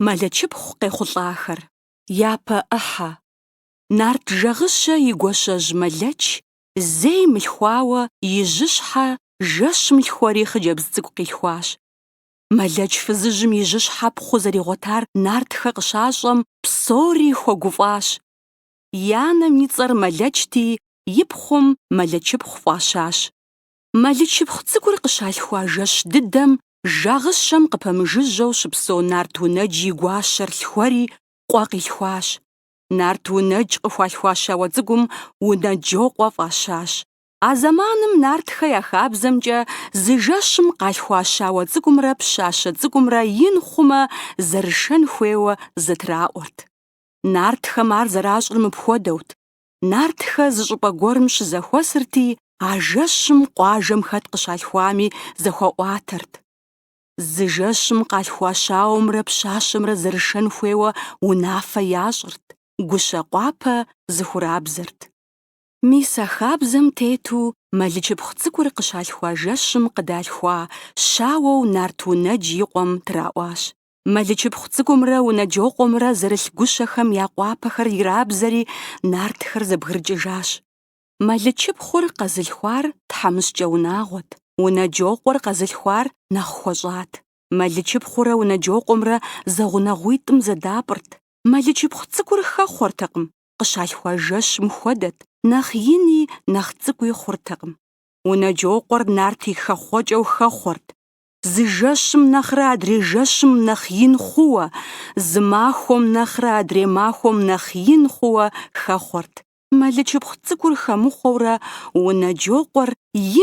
Мэлэчыпхъу къехъулӏахэр. Япэ ӏыхьэ. Нарт Жагъыщэ и гуащэжь Мэлэч зэи мылъхуауэ и жьыщхьэ жэщым лъхуэри хъыджэбз цӏыкӏу къилъхуащ. Мэлэч фызыжьым и жьыщхьэ пхъу зэригъуэтар нартхэ къыщащӏэм, псори хуэгуфӏащ. и анэм и цӏэр Мэлэчти и пхъум Мэлэчыпхъу фӏащащ. Мэлычыпхъу цӏыкӏур къыщалъхуа жэщ дыдэм Жагъыщэм къыпэмыжыжьэу щыпсэу Нарт Унэдж и гуащэр лъхуэри къуэ къилъхуащ. Нарт Унэдж къыхуалъхуа щауэ цӏыкӏум Унэджокъуэ фӏащащ. А зэманым нартхэ я хабзэмкӏэ зы жэщым къалъхуа щауэ цӏыкӏумрэ пщащэ цӏыкӏумрэ ин хъумэ зэрышэн хуейуэ зэтраӏуэрт. Нартхэм ар зэращӏыр мыпхуэдэут. Нартхэ зы щӏыпӏэ гуэрым щызэхуэсырти, а жэщым къуажэм хэт къыщалъхуами зэхуаӏуатэрт. Зы жэщым къалъхуа щауэмрэ пщащэмрэ зэрышэн хуейуэ унафэ ящӏырт, гущэ къуапэ зэхурабзэрт. Мис а хабзэм тету Мэлычыпхъу цӏыкӏур къыщалъхуа жэщым къыдалъхуа щауэу Нарт Унэдж и къуэм траӏуащ. Мэлычыпхъу цӏыкӏумрэ Унэджокъуэмрэ зэрылъ гущэхэм я къуапэхэр ирабзэри, нартхэр зэбгрыкӏыжащ. Мэлычыпхъур къэзылъхуар тхьэмыщкӏэ унагъуэт, Унэджокъуэр къэзылъхуар нэхъ хуэщӏат. Мэлычыпхъурэ Унэджокъуэмрэ зэгъунэгъуитӏым зэдапӏырт. Мэлычыпхъу цӏыкӏур хэхъуэртэкъым, къыщалъхуа жэщым хуэдэт, нэхъ ини, нэхъ цӏыкӏуи хъуртэкъым. Унэджокъуэр нарт и хэхъуэкӏэу хэхъуэрт, Зы жэщым нэхърэ адрей жэщым нэхъ ин хъууэ, зы махуэм нэхърэ адрей махуэм нэхъ ин хъууэ хэхъуэрт. Мэлычыпхъу цӏыкӏур хэмыхъуэурэ Унэджокъуэр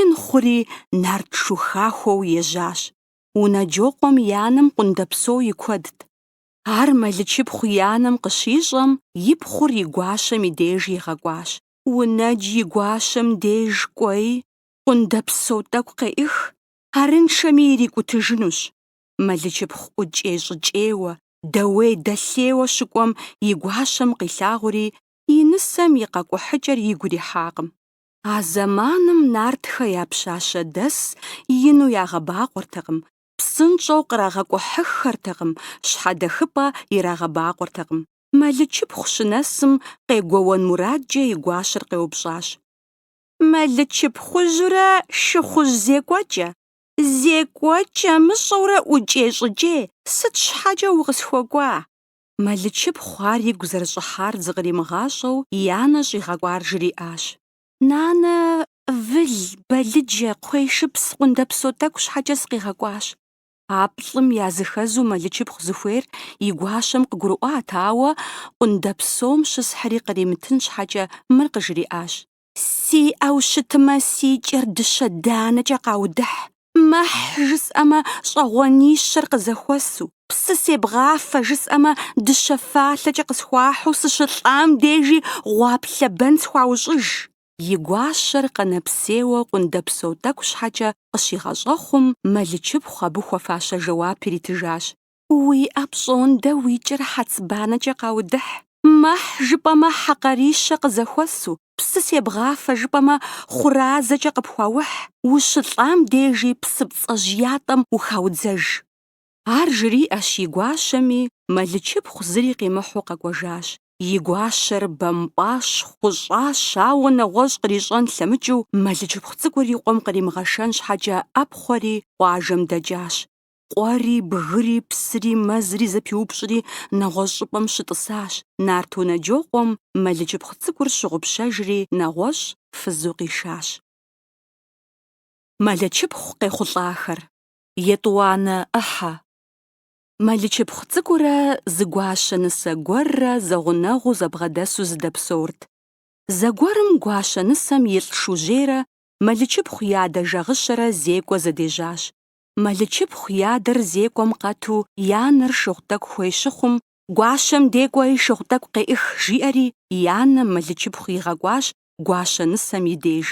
ин хъури нарт шу хахуэу ежьащ. Унэджокъуэм и анэм къундэпсо и куэдт. Ар Мэлычыпхъу и анэм къыщищӏэм, и пхъур и гуащэм и деж игъэкӏуащ. Унэдж и гуащэм деж кӏуэи, къундэпсо тӏэкӏу къеӏых, Арыншэми ирикӏутыжынущ. Мэлычыпхъу ӏукӏей-щӏыкӏейуэ, дэуей-дэлъейуэ щыкӏуэм и гуащэм къилъагъури, и нысэм и къэкӏухьыкӏэр игу ирихьакъым. А зэманым нартхэ я пщащэдэс ину ягъэбакъуэртэкъым, псынщӏэу кърагъэкӏухьыххэртэкъым, щхьэдэхыпӏэ ирагъэбакъуэртэкъым. Мэлычыпхъу щынэсым, къегуэуэн мурадкӏэ и гуащэр къеупщӏащ. мэлычыпхъужьурэ шыхъужь зекӏуэкӏэ. Зекӏуэкӏэ мыщӏэурэ ӏукӏей-щӏыкӏей, сыт щхьэкӏэ укъысхуэкӏуа? Мэлычыпхъу ар игу зэрыщӏыхьар зыкъримыгъащӏэу и анэ щӏигъэкӏуар жриӏащ. Нанэ, выл, бэлыджэ, кхъуейшыпс, къундэпсо тӏэкӏу щхьэкӏэ сыкъигъэкӏуащ. А плӏым языхэзу мэлычыпхъу зыхуейр и гуащэм къыгурыӏуат, ауэ къундэпсом щысхьри къримытын щхьэкӏэ мыр къыжриӏащ. Сиӏэу щытмэ, си кӏэр дыщэ данэкӏэ къаудыхь, мэхь жысӏэмэ, щӏэгъуэнищэр къызэхуэсу, псы себгъафэ жысӏэмэ, дыщэ фалъэкӏэ къысхуахьу сыщылӏам дежи гъуаплъэ бэн схуаущӏыж. и гуащэр къэнэпсейуэ къундэпсо тӏэкӏу щхьэкӏэ къыщигъэщӏэхъум, мэлычыпхъу абы хуэфащэ жэуап иритыжащ. Уиӏэ пщӏондэ уи кӏэр хьэцбанэкӏэ къаудыхь. Мэхь жыпӏэмэ хьэкъарищэ къызэхуэсу, псы себгъафэ жыпӏэмэ хъуразэкӏэ къыпхуаухь, ущылӏам дежи псыпцӏэжь ятӏэм ухаудзэж. Ар жриӏэщ и гуащэми, мэлычыпхъу зыри къимыхьу къэкӏуэжащ. И гуащэр бэмпӏащ, хъущӏащ, ауэ нэгъуэщӏ кърищӏэн лъэмыкӏыу, мэлычыпхъу цӏыкӏур и къуэм къримыгъэшэн щхьэкӏэ ӏэпхъуэри, къуажэм дэкӏащ. Къуэри, бгыри, псыри, мэзри зэпиупщӏри, нэгъуэщӏ щӏыпӏэм щытӏысащ. Нарт Унэджокъуэм мэлычыпхъу цӏыкӏур щыгъупщэжри, нэгъуэщӏ фызу къишащ. Мэлычыпхъу къехъулӏахэр. етӏуанэ ӏыхьэ. Мэлычыпхъу цӏыкӏурэ зы гуащэ нысэ гуэррэ зэгъунэгъуу зэбгъэдэсу зыдэпсэурт. Зэгуэрым гуащэ нысэм и лӏ Шужьейрэ Мэлычыпхъу и адэ Жагъыщэрэ зекӏуэ зэдежьащ. Мэлычыпхъу и адэр зекӏуэм къэту и анэр шыгъу тӏэкӏу хуей щыхъум, Гуащэм де кӏуэи шыгъу тӏэкӏу къеӏых, жиӏэри и анэм Мэлычыпхъу игъэкӏуащ гуащэ нысэм и деж.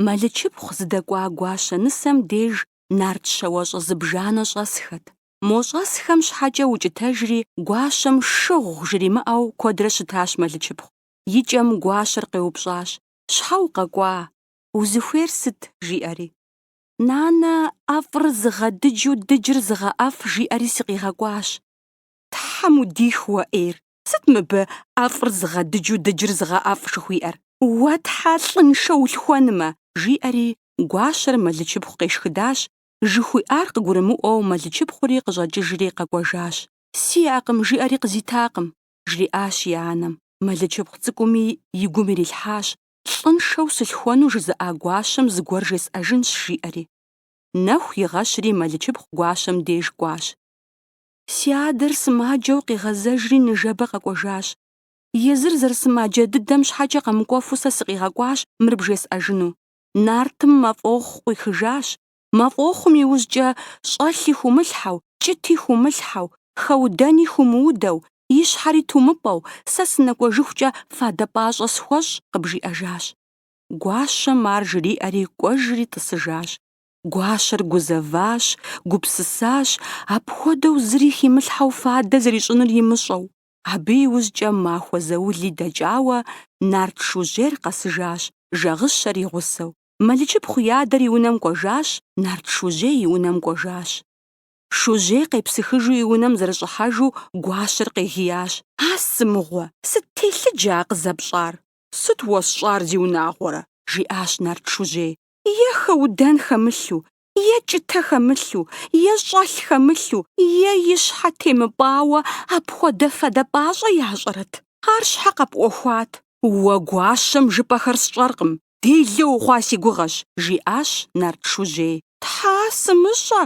Мэлычыпхъу зыдэкӏуа Гуащэ нысэм деж нарт щауэщӏэ зыбжанэ щӏэсхэт. Мо щӏэсхэм щхьэкӏэ укӏытэжри, Гуащэм шыгъу жримыӏэу куэдрэ щытащ Мэлычыпхъу. И кӏэм Гуащэр къеупщӏащ, Щхьэ укъэкӏуа? Узыхуейр сыт? жиӏэри. Нанэ, ӏэфӏыр зыгъэдыджу дыджыр зыгъэӏэфӏ, жиӏэри сыкъигъэкӏуащ. Тхьэм удих уэ ӏейр! Сыт мыбы ӏэфӏыр зыгъэдыджу дыджыр зыгъэӏэфӏ жыхуиӏэр? Уэ тхьэ лӏыншэ улъхуэнмэ! Жиӏэри, гуащэр мэлычыпхъу къешхыдащ, жыхуиӏар къыгурымыӏуэу мэлычыпхъури къыщӏэкӏыжри къэкӏуэжащ. Сиӏэкъым, жиӏэри къызитакъым, жриӏащ и анэм. Мэлычыпхъу цӏыкӏуми и гум ирилъхьащ, лӏыншэу сылъхуэну жызыӏа гуащэм зыгуэр жесӏэжынщ, жиӏэри. Нэху игъэщри мэлычыпхъу гуащэм деж кӏуащ. Си адэр сымаджэу къигъэзэжри ныжэбэ къэкӏуэжащ. Езыр зэрысымаджэ дыдэм щхьэкӏэ къэмыкӏуэфу сэ сыкъигъэкӏуащ мыр бжесӏэжыну. Нартым мафӏохъу къуихыжащ. Мафӏохъум иужькӏэ щӏэлъи хумылъхьэу, кӏыти хумылъхьэу, хэудэни хумыудэу, и щхьэри тумыпӏэу, сэ сынэкӏуэжыхукӏэ фадэ пӏащӏэ схуэщӏ, къыбжиӏэжащ. Гуащэм ар жриӏэри кӏуэжри тӏысыжащ. Гуащэр гузэващ, гупсысащ, апхуэдэу зыри химылъхьэу фадэ зэрищӏынур имыщӏэу. Абы иужькӏэ махуэ заули дэкӏауэ нарт Шужьейр къэсыжащ, Жэгъыщэр и гъусэу. Мэлычыпхъу и адэр и унэм кӏуэжащ, нарт Шужьей и унэм кӏуэжащ. Шужьей къепсыхыжу и унэм зэрыщӏыхьэжу Гуащэр къегиящ. А сымыгъуэ, сыт телъыджэ а къызэпщӏар? Сыт уэсщӏар, зиунагъуэрэ? жиӏащ нарт Шужьей. е хэудэн хэмылъу, е кӏытэ хэмылъу, е щӏэлъ хэмылъу, е и щхьэ темыпӏауэ апхуэдэ фадэ пӏащӏэ ящӏэрэт? Ар щхьэ къэпӏуэхуат. Уэ гуащэм жыпӏэхэр сщӏэркъым, делэ ухъуа си гугъэщ, жиӏащ нарт Шужьей. Тхьэ, сымыщӏэ,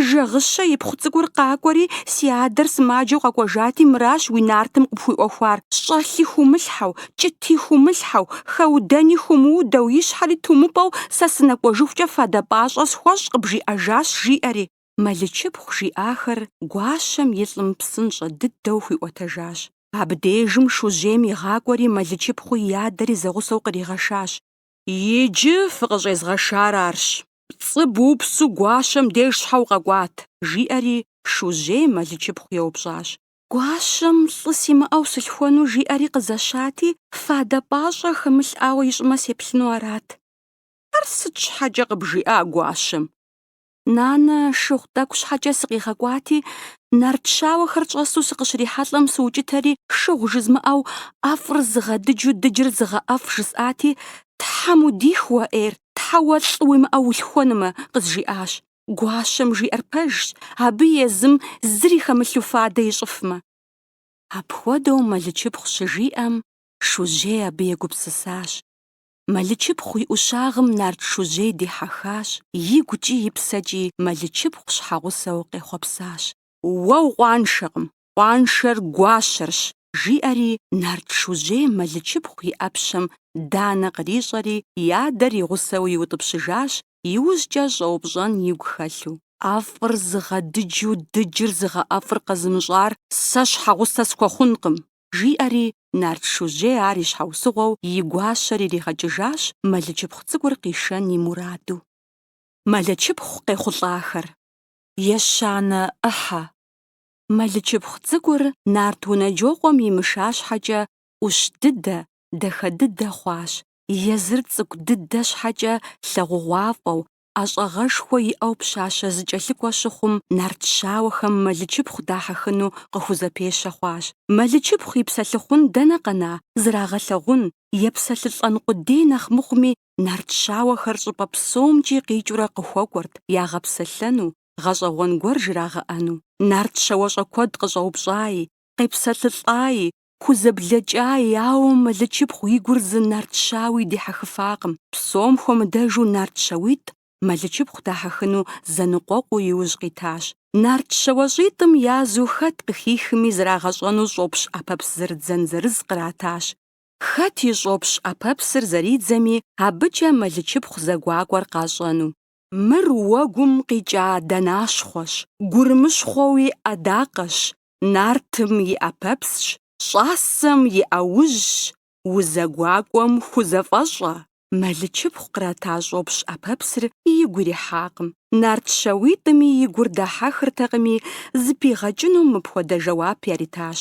Жэгъыщэ ипхъу цӏыкӏур къакӏуэри, си адэр сымаджэу къэкӏуэжати, мыращ уи нартым къыпхуиӏуэхуар, щӏэлъи хумылъхьэу, кӏыти хумылъхьэу, хэудэни хумыудэу, и щхьэри тумыпӏэу сэ сынэкӏуэжыхукӏэ фадэ пӏащӏэ схуэщӏ къыбжиӏэжащ, жиӏэри, Мэлычыпхъу жиӏахэр гуащэм и лӏым псынщӏэ дыдэу хуиӏуэтэжащ. Абдежым Шужьейм игъакӏуэри Мэлычыпхъуи и адэри зэгъусэу къригъэшащ. Иджы фыкъыщӏезгъэшар арщ. Пцӏы бупсу гуащэм деж щхьэ укъэкӏуат? жиӏэри, Шужьей Мэлычыпхъу еупщӏащ. Гуащэм лӏы симыӏэу сылъхуэну жиӏэри къызэщати, фадэ пӏащӏэ хэмылъӏауэ ищӏмэ сеплъыну арат. Ар сыт щхьэкӏэ къыбжиӏа Гуащэм? Нанэ шыгъу тӏэкӏу щхьэкӏэ сыкъигъэкӏуати, нарт щауэхэр щӏэсу сыкъыщрихьэлӏэм сыукӏытэри, шыгъу жызмыӏэу ӏэфӏыр зыгъэдыджу дыджыр зыгъэӏэфӏ жысӏати, Тхьэм удих уэ, ӏейр, Тхьэ уэ лӏы уимыӏэу улъхуэнумэ, къызжиӏащ. Гуащэм жиӏэр пэжщ, абы езым зыри хэмылъу фадэ ищӏыфмэ. Апхуэдэу Мэлычыпхъу щыжиӏэм, Шужьей абы егупсысащ. Мэлычыпхъу и ӏущагъым нарт Шужьей дихьэхащ, игукӏи и псэкӏи Мэлычыпхъу щхьэгъусэу къехъуэпсащ. Уэ укъуаншэкъым, Къуаншэр гуащэрщ, жиӏэри нарт Шужьей Мэлычыпхъу и ӏэпщэм данэ кърищӏэри и адэр и гъусэу иутӏыпщыжащ, иужькӏэ щӏэупщӏэн игу хэлъу. ӏэфӏыр зыгъэдыджу дыджыр зыгъэӏэфӏыр къэзымыщӏар сэ щхьэгъусэ схуэхъункъым, жиӏэри нарт Шужьей ар и щхьэусыгъуэу и гуащэр иригъэкӏыжащ Мэлычыпхъу цӏыкӏур къишэн и мураду. Мэлычыпхъу къехъулӏахэр. Ещанэ ӏыхьэ. мэлычыпхъу цӏыкӏур нарт унэджокъуэм имыша щхьэкӏэ ӏущ дыдэ, дахэ дыдэ хъуащ, езыр цӏыкӏу дыдэ щхьэкӏэ лъагъугъуафӏэу, ӏэщӏагъэшхуэ иӏэу пщащэ зыкӏэлъыкӏуэ щыхъум, нарт щауэхэм мэлычыпхъу дахьэхыну къыхузэпещэ хъуащ. Мэлычыпхъу и псэлъыхъун дэнэ къэна, зрагъэлъэгъун, епсэлъылӏэн къудей нэхъ мыхъуми, нарт щауэхэр щӏыпӏэ псомкӏи къикӏыурэ къыхуэкӏуэрт ягъэпсэлъэну, гъэщӏэгъуэн гуэр жрагъэӏэну. Нарт щауэщӏэ куэд къыщӏэупщӏаи, къепсэлъылӏаи, хузэблэкӏаи, ауэ Мэлычыпхъу и гур зы нарт щауи дихьэхыфакъым. Псом хуэмыдэжу нарт щауитӏ Мэлычыпхъу дахьэхыну зэныкъуэкъуу иужь къитащ. Нарт щауэщӏитӏым язу хэт къыхихми зрагъэщӏэну щӏопщ ӏэпэпс зэрыдзэн зырыз къратащ. Хэт и щӏопщ ӏэпэпсыр зэридзэми, абыкӏэ Мэлычыпхъу зэгуакӏуэр къащӏэну. Мыр уэгум къикӏа дэнащхъуэщ, гурымыщхъуэу и ӏэдакъэщ, нартым и ӏэпэпсщ, щӏасэм и ӏэужьщ, узэгуакӏуэм хузэфӏэщӏэ, мэлычыпхъу кърата щӏопщ ӏэпэпсыр игу ирихьакъым. Нарт щауитӏми и гур дахьэхыртэкъыми, зыпигъэкӏыну мыпхуэдэ жэуап яритащ.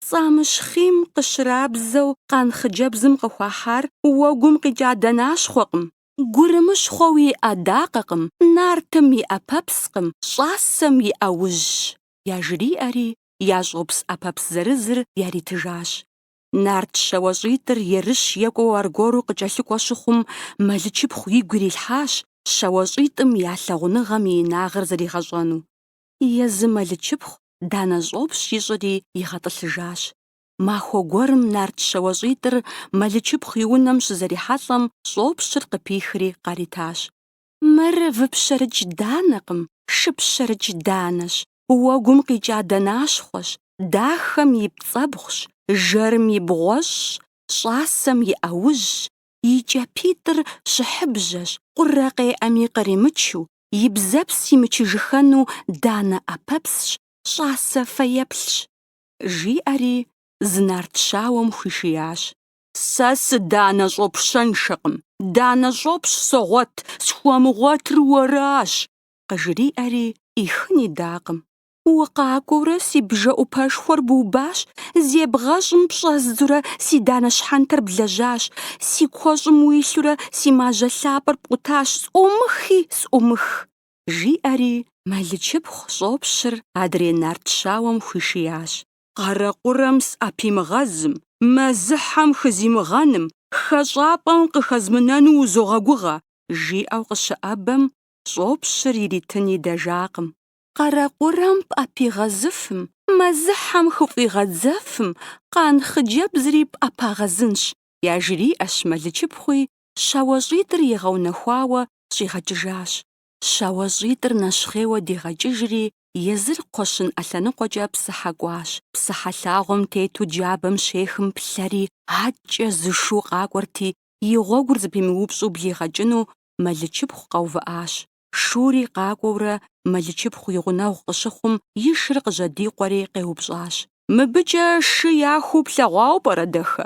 Цӏамыщхъийм къыщрабзэу къан хъыджэбзым къыхуахьар уэгум къикӏа дэнащхъуэкъым, Гурымыщхъуэу и ӏэдакъэкъым, нартым и ӏэпэпскъым, щӏасэм и ӏэужьщ, яжриӏэри, я щӏопс ӏэпэпс зырызыр яритыжащ. Нарт щауэщӏитӏыр ерыщ екӏуэу аргуэру къыкӏэлъыкӏуэ щыхъум, мэлычыпхъу игу ирилъхьащ щауэщӏитӏым я лъагъуныгъэм и инагъыр зэригъэщӏэну. Езы мэлычыпхъу данэ щӏопщ ищӏри игъэтӏылъыжащ. Махуэ гуэрым нарт щауэщӏитӏыр Мэлычыпхъу и унэм щызэрихьэлӏэм, щӏопщыр къыпихри къаритащ. Мыр выпщэрыкӏ данэкъым, шыпщэрыкӏ данэщ, уэгум къикӏа дэнащхъуэщ, дахэм и пцӏэбгъущ, жэрым и бгъуэщӏщ, щӏасэм и ӏэужьщ, и кӏапитӏыр щыхьыбжьэщ, къурэ къеӏэми къримычу, и бзэпс имычыжыхэну данэ ӏэпэпсщ, щӏасэ фэеплъщ. жиӏэри зы нарт щауэм хуишиящ. Сэ сыданэ щӏопщыншэкъым, данэ щӏопщ согъуэт, схуэмыгъуэтыр уэращ, къыжриӏэри ӏихын идакъым. Укъакӏуэурэ си бжэӏупэшхуэр бубащ, зебгъэщӏым пщӏэздзурэ си данэ щхьэнтэр блэжьащ, си куэщӏым уилъурэ си мажьэ лъапӏэр пкъутащ, сӏумыхи сӏумых. жиӏэри, Мэлычыпхъу щӏопщыр адрей нарт щауэм хуишиящ. Къарэкъурэм сӏэпимыгъэзым, мэзыхьэм хызимыгъэным, хэщӏапӏэм къыхэзмынэну узогъэгугъэ, жиӏэу къыщыӏэбэм, щӏопщыр иритын идэжакъым. Къарэкъурэм пӏэпигъэзыфым, мэзыхьэм хыфӏигъэдзэфым, къан хъыджэбзри пӏэпагъэзынщ, яжриӏэщ Мэлычыпхъуи, Щауэщӏитӏыр игъэунэхуауэ щӏигъэкӏыжащ. Щауэщӏитӏыр нэщхъейуэ дигъэкӏыжри, езыр кхъуэщын ӏэлъэныкъуэкӏэ псыхьэ кӏуащ. Псыхьэ лъагъуэм тету джабэм щехым плъэри, адкӏэ зы шу къакӏуэрти, и гъуэгур зэпимыупщӏу блигъэкӏыну Мэлычыпхъу къэувыӏащ. Шури къакӏуэурэ Мэлычыпхъу и гъунэгъу къыщыхъум, и шыр къыжьэдикъуэри къеупщӏащ. Мыбыкӏэ шы яхуу плъэгъуауэ пӏэрэ, дахэ?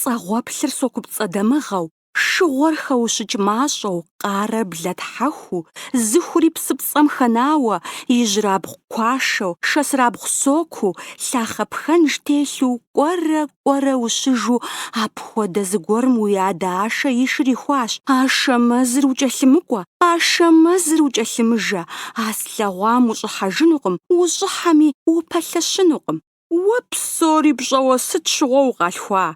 Пцӏэгъуэплъыр сокупцӏэ дамыгъэу, шыгъуэр хэущыкӏ мащӏэу, къарэр блэ тхьэхуу, зыхури псыпцӏэм хэнауэ, ижьырабгъу куашэу, шэсырабгъу сокуу, лъахъэ пхэнж телъу кӏуэрэ, кӏуэрэ ущыжу, апхуэдэ зыгуэрым уи адэ Ашэ и шыр ихуащ. Ашэмэзыр укӏэлъымыкӏуэ, Ашэмэзыр укӏэлъымыжэ, а слъэгъуам ущӏыхьэжынукъым, ущӏыхьэми, упэлъэщынукъым. Уэ псори пщӏэуэ сыт щыгъуэ укъалъхуа?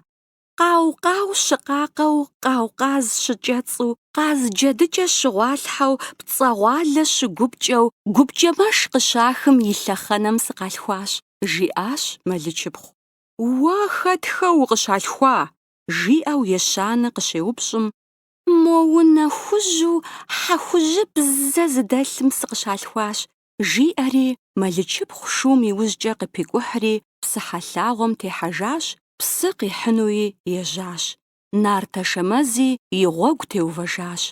Къау-къау щыкъакъэу, къау-къаз щыкӏэцӏу, къаз джэдыкӏэ щыгъуалъхьэу, пцӏэгъуалэ щыгупкӏэу, гупкӏэмэш къыщахым и лъэхъэнэм сыкъалъхуащ, жиӏащ Мэлычыпхъу. Уэ хэтхэ укъыщалъхуа? жиӏэу ещанэ къыщеупщӏым, Мо унэ хужьу хьэхужьыбзэ зыдэлъым сыкъыщалъхуащ, жиӏэри, Мэлычыпхъу шум и ужькӏэ къыпикӏухьри, псыхьэ лъагъуэм техьэжащ, псы къихьынуи ежьащ. Нарт Ашэмэзи и гъуэгу теувэжащ.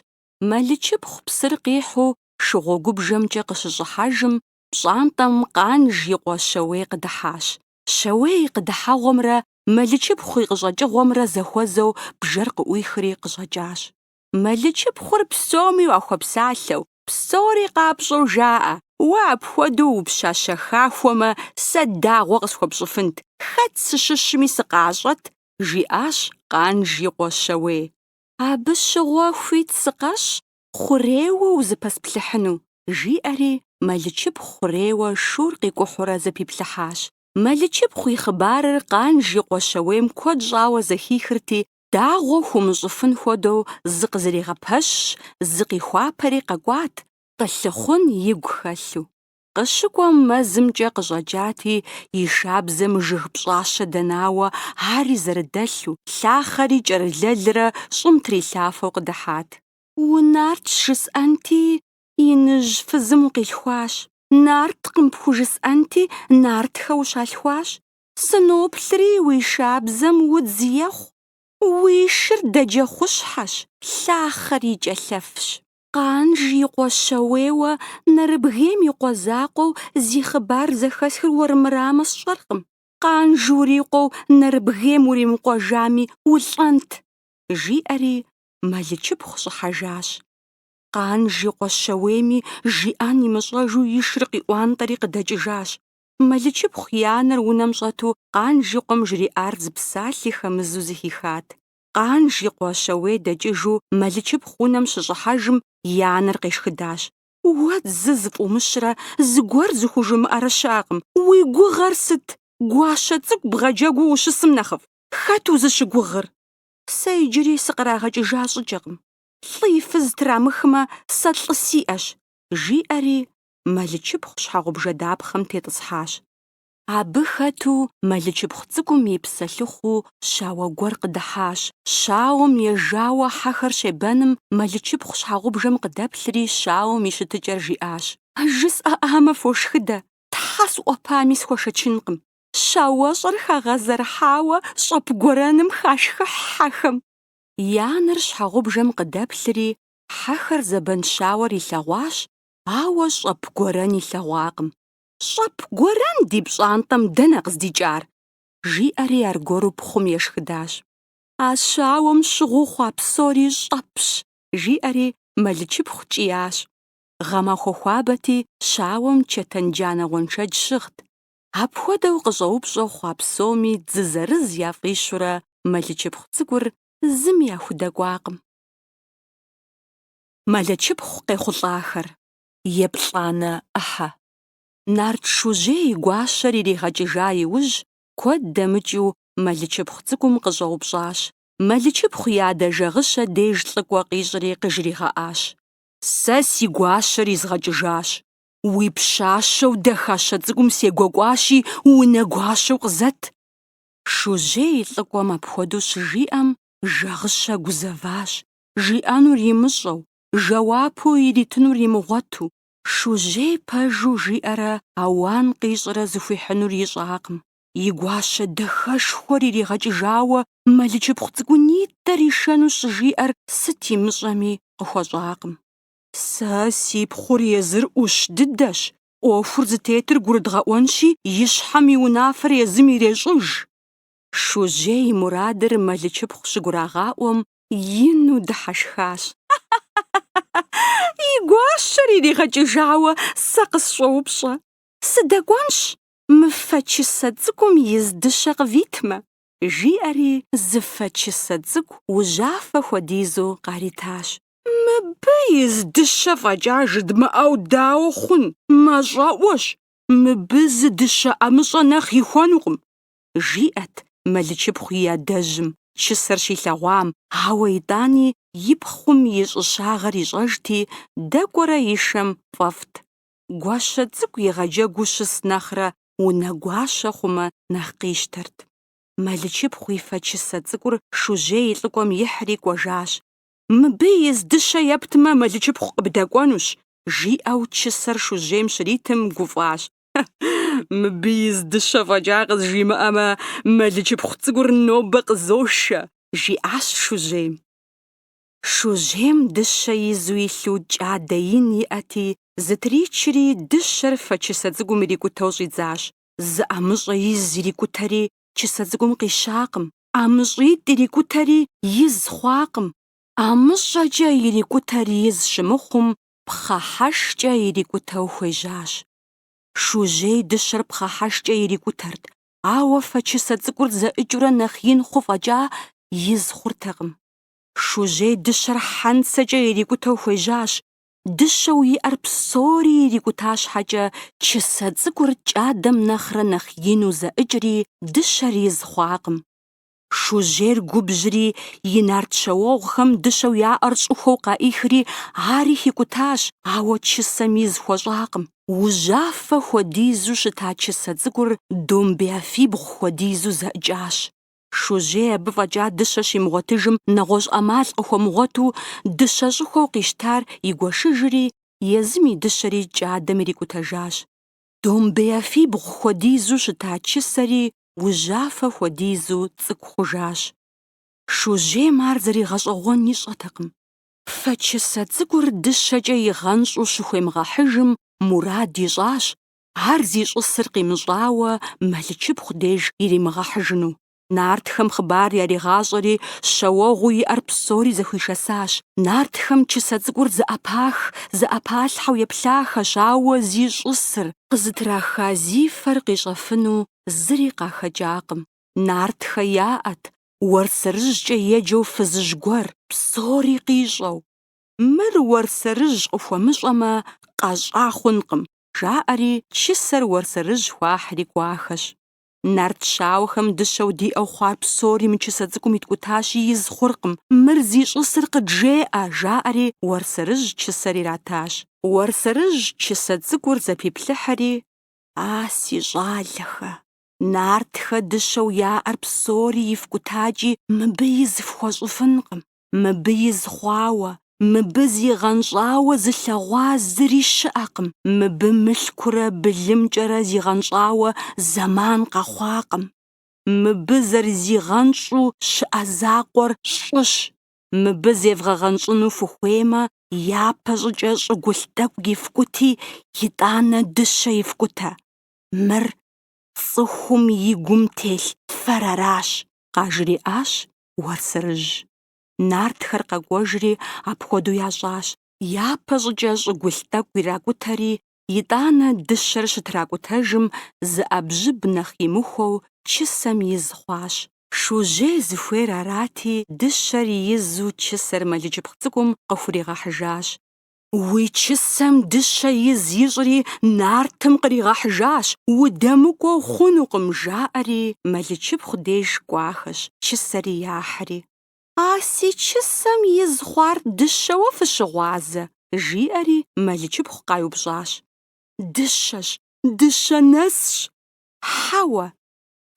Мэлычыпхъу псыр къихьу шыгъуэгубжэмкӏэ къыщыщӏыхьэжым, пщӏантӏэм Къанж и къуэ Щэуей къыдыхьащ. Щэуей къыдыхьэгъуэмрэ Мэлычыпхъу и къыщӏэкӏыгъуэмрэ зэхуэзэу бжэр къыӏуихри къыщӏэкӏащ. Мэлычыпхъур псоми уахуэпсалъэу, псори къапщӏэу жаӏэ, Уэ апхуэдэу упщащэ хахуэмэ, сэ дагъуэ къысхуэпщӏыфынт, хэт сыщыщми сыкъащӏэт, жиӏащ Къанж и къуэ Щэуей. Абы щыгъуэ хуит сыкъэщӏ хъурейуэ узыпэсплъыхьыну, жиӏэри Мэлычыпхъу хъурейуэ шур къикӏухьурэ зэпиплъыхьащ. Мэлычыпхъу и хъыбарыр Къанж и къуэ Щэуейм куэд щӏауэ зэхихырти, Дагъуэ хумыщӏыфын хуэдэу зыкъызэригъэпэщщ, зыкъихуапэри къэкӏуат, къылъыхъун игу хэлъу. Къыщыкӏуэм мэзымкӏэ къыщӏэкӏати, и шабзэм жыг пщӏащэ дэнауэ ари зэрыдэлъу, лъахъэри кӏэрылэлрэ щӏым трилъафэу къыдыхьат. Унарт жысӏэнти, иныжь фызым укъилъхуащ, нарткъым пхужысӏэнти, нартхэ ущалъхуащ, Сыноплъри уи шабзэм удз ехъу, уи шыр дэджэхъущхьэщ, лъахъэр и кӏэлъэфщ. Къанж и къуэ Щэуейуэ Нэрыбгейм и къуэ закъуэу зи хъыбар зэхэсхыр уэрымырамэ сщӏэркъым, Къанж урикъуэу Нэрыбгейм уримыкъуэжами улӏэнт, жиӏэри Мэлычыпхъу щӏыхьэжащ. Къанж и къуэ Щэуейми жиӏэн имыщӏэжу и шыр къиӏуантӏэри къыдэкӏыжащ, Мэлычыпхъу и анэр унэм щӏэту Къанж и къуэм жриӏар зы псалъи хэмызу зыхихат. Къанж и къуэ Щэуей дэкӏыжу Мэлычыпхъу унэм щыщӏыхьэжым, и анэр къешхыдащ. Уэ дзы зыфӏумыщрэ зыгуэр зыхужумыӏэрэ щыӏэкъым. Уи гугъэр сыт? Гуащэ цӏыкӏу бгъэджэгуу ущысым нэхъыфӏ, хэт узыщыгугъыр? Сэ иджыри сыкърагъэкӏыжа щӏыкӏэкъым. Лӏы и фыз трамыхмэ, сэ лӏы сиӏэщ, жиӏэри Мэлычыпхъу щхьэгъубжэ дапхъэм тетӏысхьащ. Абы хэту Мэлычыпхъу цӏыкӏум и псэлъыхъуу щауэ гуэр къыдыхьащ. Щауэм ежауэ хьэхэр щебэным Мэлычыпхъу щхьэгъубжэм къыдэплъри щауэм и щытыкӏэр жиӏащ. Жысӏэӏамэ фошхыдэ, тхьэ сӏуэпами схуэшэчынкъым. Щауэщӏэр хагъэзэрыхьауэ щӏэп гуэрэным хашхыхь хьэхэм. И анэр щхьэгъубжэм къыдэплъри, хьэхэр зэбэн щауэр илъэгъуащ, Ауэ щӏэп гуэрэн илъэгъуакъым. Щӏэп гуэрэн ди пщӏантӏэм дэнэ къыздикӏар? жиӏэри аргуэру пхъум ешхыдащ. А щауэм щыгъыу хъуа псори щӏэпщ, жиӏэри Мэлычыпхъу кӏиящ. Гъэмахуэ хуабэти, щауэм чэтэн джанэ гъуэншэдж щыгът. Апхуэдэу къыщӏэупщӏэу хъуа псоми дзы зырыз яфӏищурэ Мэлычыпхъу цӏыкӏур зыми яхудэкӏуакъым. Мэлычыпхъу къехъулӏахэр. Еплӏанэ ӏыхьэ. Нарт Шужьей и гуащэр иригъэкӏыжа иужь, куэд дэмыкӏыу Мэлычыпхъу цӏыкӏум къыщӏэупщӏащ. Мэлычыпхъу и адэ Жагъыщэ деж лӏыкӏуэ къищӏри къыжригъэӏащ. Сэ си гуащэр изгъэкӏыжащ. Уи пщащэу Дахащэ цӏыкӏум сегуэкӏуащи, унэ гуащэу къызэт. Шужьей и лӏыкӏуэм апхуэдэу щыжиӏэм, Жагъыщэ гузэващ, жиӏэнур имыщӏэу, жэуапу иритынур имыгъуэту, шужьей пэжу жиӏэрэ ауан къищӏрэ зыхуихьынур ищӏакъым. И гуащэ дахэшхуэр иригъэкӏыжауэ мэлычыпхъу цӏыкӏунитӏэр ишэну щӏыжиӏэр сыт имыщӏэми къыхуэщӏакъым. Сэ си пхъур езыр ӏущ дыдэщ, ӏуэхур зытетыр гурыдгъэӏуэнщи, и щхьэм и унафэр езым ирещӏыж. Шужьей и мурадыр мэлычыпхъу щыгурагъаӏуэм ину дыхьэшхащ. И гуащэр иригъэкӏыжауэ сэ къысщӏоупщӏэ, Сыдэкӏуэнщ, мы фэ чысэ цӏыкӏум из дыщэ къывитмэ, жиӏэри зы фэ чысэ цӏыкӏу ужьафэ хуэдизу къаритащ. Мыбы из дыщэ фӏэкӏа жыдмыӏэу дауэ хъун, мащӏэӏуэщ, мыбы зы дыщэ ӏэмыщӏэ нэхъ ихуэнукъым, жиӏэт мэлычыпхъу и адэжьым, чысэр щилъэгъуам, ауэ итӏани и пхъум и щӏыщагъэр ищӏэжти, дэкӏуэрэ ишэм фӏэфӏт. Гуащэ цӏыкӏу игъэджэгуу щыс нэхърэ унэгуащэ хъумэ нэхъ къищтэрт. Мэлычыпхъу и фэ чысэ цӏыкӏур Шужьей и лӏыкӏуэм ихьри кӏуэжащ. Мыбы из дыщэ ептмэ, мэлычыпхъу къыбдэкӏуэнущ, жиӏэу чысэр Шужьейм щритым гуфӏащ. Мыбы из дыщэ фӏэкӏа къызжимыӏэмэ, мэлычыпхъу цӏыкӏур нобэ къызошэ, жиӏащ Шужьейм. Шужьейм дыщэ изу илъу кӏадэ ин иӏэти, зытричри, дыщэр фэ чысэ цӏыкӏум ирикӏутэу щӏидзащ. Зы ӏэмыщӏэ из ирикӏутэри, чысэ цӏыкӏум къищакъым. ӏэмыщӏитӏ ирикӏутэри, из хъуакъым. ӏэмыщӏэкӏэ ирикӏутэр из щымыхъум, пхъэхьэшкӏэ ирикӏутэу хуежьащ. Шужьей дыщэр пхъэхьэшкӏэ ирикӏутэрт, ауэ фэ чысэ цӏыкӏур зэӏыкӏыурэ нэхъ ин хъу фӏэкӏа, из хъуртэкъым. Шужьей дыщэр хьэнцэкӏэ ирикӏутэу хуежьащ, дыщэу иӏэр псори ирикӏута щхьэкӏэ, чысэ цӏыкӏур кӏадэм нэхърэ нэхъ ину зэӏыкӏри, дыщэр из хъуакъым. Шужьейр губжьри, и нарт щэуэгъухэм дыщэу яӏэр щӏыхуэу къаӏихри, ари хикӏутащ, ауэ чысэм из хуэщӏакъым. Ужьафэ хуэдизу щыта чысэ цӏыкӏур домбеяфибгъу хуэдизу зэӏыкӏащ. Шужьей абы фӏэкӏа дыщэ щимыгъуэтыжым нэгъуэщӏ ӏэмал къыхуэмыгъуэту, дыщэ щӏыхуэу къищтар игуэшыжри, езым и дыщэри кӏадэм ирикӏутэжащ. Домбеяфибгъу хуэдизу щыта чысэри ужьафэ хуэдизу цӏыкӏу хъужащ. Шужьейм ар зэригъэщӏэгъуэн ищӏэтэкъым. Фэ чысэ цӏыкӏур дыщэкӏэ игъэнщӏу щыхуемыгъэхьыжым мурад ищӏащ ар зищӏысыр къимыщӏауэ мэлычыпхъу деж иримыгъэхьыжыну. Нартхэм хъыбар яригъащӏэри, щауэгъуу иӏэр псори зэхуишэсащ. Нартхэм чысэ цӏыкӏур зэӏэпах-зэӏэпалъхьэу еплъахэщ, ауэ зищӏысыр, къызытраха зи фэр къищӏэфыну зыри къахэкӏакъым. Нартхэ яӏэт, Уэрсэрыжькӏэ еджэу фызыжь гуэр, псори къищӏэу, Мыр Уэрсэрыжь къыхуэмыщӏэмэ, къэщӏа хъункъым, жаӏэри, чысэр Уэрсэрыжь хуахьри кӏуахэщ. Нарт щауэхэм дыщэу диӏэу хъуар псори мы чысэ цӏыкӏум иткӏутащи, из хъуркъым. Мыр зищӏысыр къыджеӏэ, жаӏэри, Уэрсэрыжь чысэр иратащ. Уэрсэрыжь чысэ цӏыкӏур зэпиплъыхьри, А, си щӏалэхэ! Нартхэ дыщэу яӏэр псори ифкӏутакӏи, мыбы из фхуэщӏыфынкъым. Мыбы из хъуауэ, мыбы зигъэнщӏауэ зылъэгъуа зыри щыӏэкъым, мыбы мылъкурэ былымкӏэрэ зигъэнщӏауэ зэман къэхъуакъым. Мыбы зэрызигъэнщӏу щыӏэ закъуэр щӏыщ, мыбы зевгъэгъэнщӏыну фыхуеймэ, япэ щӏыкӏэ щӏыгулъ тӏэкӏу ифкӏути, итӏанэ дыщэ ифкӏутэ. Мыр цӏыхум и гум телъ фэр аращ, къажриӏащ Уэрсэрыжь. Нартхэр къэкӏуэжри, апхуэдэу ящӏащ. Япэ щӏыкӏэ щӏыгулъ тӏэкӏу иракӏутэри, итӏанэ дыщэр щытракӏутэжым, зы ӏэбжьыб нэхъ имыхуэу чысэм из хъуащ. Шужьей зыхуейр арати, дыщэр изу чысэр Мэлычыпхъу цӏыкӏум къыхуригъэхьыжащ. Уи чысэм дыщэ из ищӏри, нартым къригъэхьыжащ, удэмыкӏуэу хъунукъым, жаӏэри, Мэлычыпхъу деж кӏуахэщ, чысэри яхьри. А си чысэм из хъуар дыщэуэ фыщыгъуазэ? жиӏэри, Мэлычыпхъу къаиупщӏащ. Дыщэщ, дыщэ нэсщ. Хьэуэ,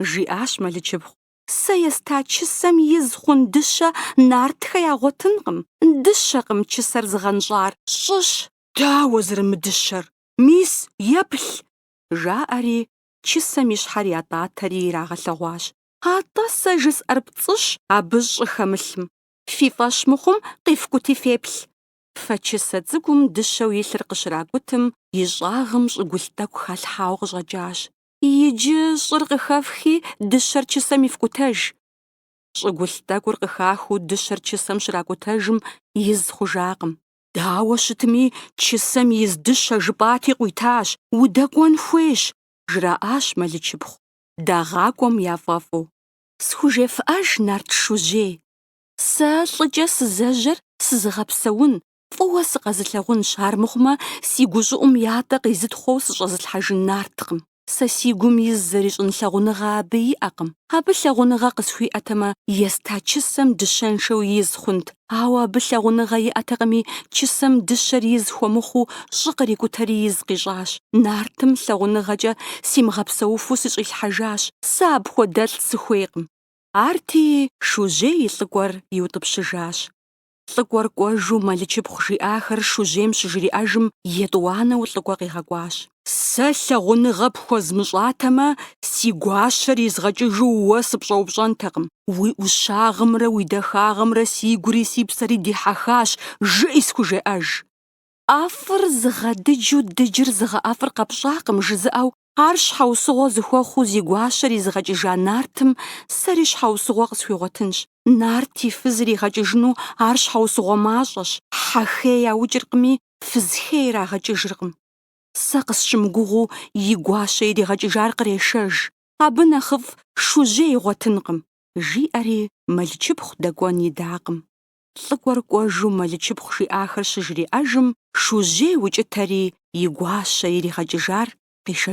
жиӏащ Мэлычыпхъу, Сэ еста чысэм из хъун дыщэ нартхэ ягъуэтынкъым. Дыщэкъым чысэр зыгъэнщӏар, щӏыщ. Дауэ зэрымыдыщэр? Мис, еплъ! жаӏэри, чысэм и щхьэр ятӏатэри ирагъэлъэгъуащ. Атӏэ сэ жысӏэр пцӏыщ абы щӏы хэмылъым. Фи фӏэщ мыхъум, къифкӏути феплъ. Фэ чысэ цӏыкӏум дыщэу илъыр къыщракӏутым, и щӏагъым щӏыгулъ тӏэкӏу халъхьауэ къыщӏэкӏащ. Иджы щӏыр къыхэфхи, дыщэр чысэм ифкӏутэж. Щӏыгулъ тӏэкӏур къыхахыу дыщэр чысэм щракӏутэжым, из хъужакъым. Дауэ щытми, чысэм из дыщэ жыпӏати къуитащ, удэкӏуэн хуейщ, жраӏащ Мэлычыпхъу, дагъэкӏуэн яфӏэфӏу. Схужефӏэж, Нарт Шужьей. Сэ лӏыкӏэ сызэжьэр сызыгъэпсэун, Фӏыуэ сыкъэзылъагъунщ, армыхъумэ, си гущӏыӏум ятӏэ къизытхъуэу сыщӏэзылъхьэжын нарткъым. Сэ си гум из зэрищӏын лъагъуныгъэ абы иӏэкъым. Абы лъагъуныгъэ къысхуиӏэтэмэ, еста чысэм дыщэншэу из хъунт, ауэ абы лъагъуныгъэ иӏэтэкъыми, чысэм дыщэр из хуэмыхъуу щӏы кърикӏутэри из къищӏащ. Нартым лъагъуныгъэкӏэ симыгъэпсэуфу сыщӏилъхьэжащ, сэ апхуэдэлӏ сыхуейкъым. Арти, Шужьей и лӏыкӏуэр иутӏыпщыжащ. Лӏыкӏуэр кӏуэжу Мэлычыпхъу жиӏахэр Шужьейм щыжриӏэжым, етӏуанэу лӏыкӏуэ къигъэкӏуащ. Сэ лъагъуныгъэ пхуэзмыщӏатэмэ, си гуащэр изгъэкӏыжу уэ сыпщӏэупщӏэнтэкъым. Уи ӏущагъымрэ уи дахагъымрэ си гури си псэри дихьэхащ, жыӏи схужеӏэж. ӏэфӏыр зыгъэдыджу дыджыр зыгъэӏэфӏыр къэпщӏакъым жызыӏэу Ар щхьэусыгъуэ зыхуэхъуу зи гуащэр изыгъэкӏыжа Нартым сэри щхьэусыгъуэ къысхуигъуэтынщ. Нарт и фыз иригъэкӏыжыну ар щхьэусыгъуэ мащӏэщ, хьэхей яукӏыркъыми, фызхей ирагъэкӏыжыркъым. Сэ къысщымыгугъыу и гуащэ иригъэкӏыжар кърешэж, абы нэхъыфӏ Шужьей игъуэтынкъым, жиӏэри Мэлычыпхъу дэкӏуэн идакъым. Лӏыкӏуэр кӏуэжу Мэлычыпхъу жиӏахэр щыжриӏэжым, Шужьей укӏытэри и гуащэ иригъэкӏыжар къишэжащ.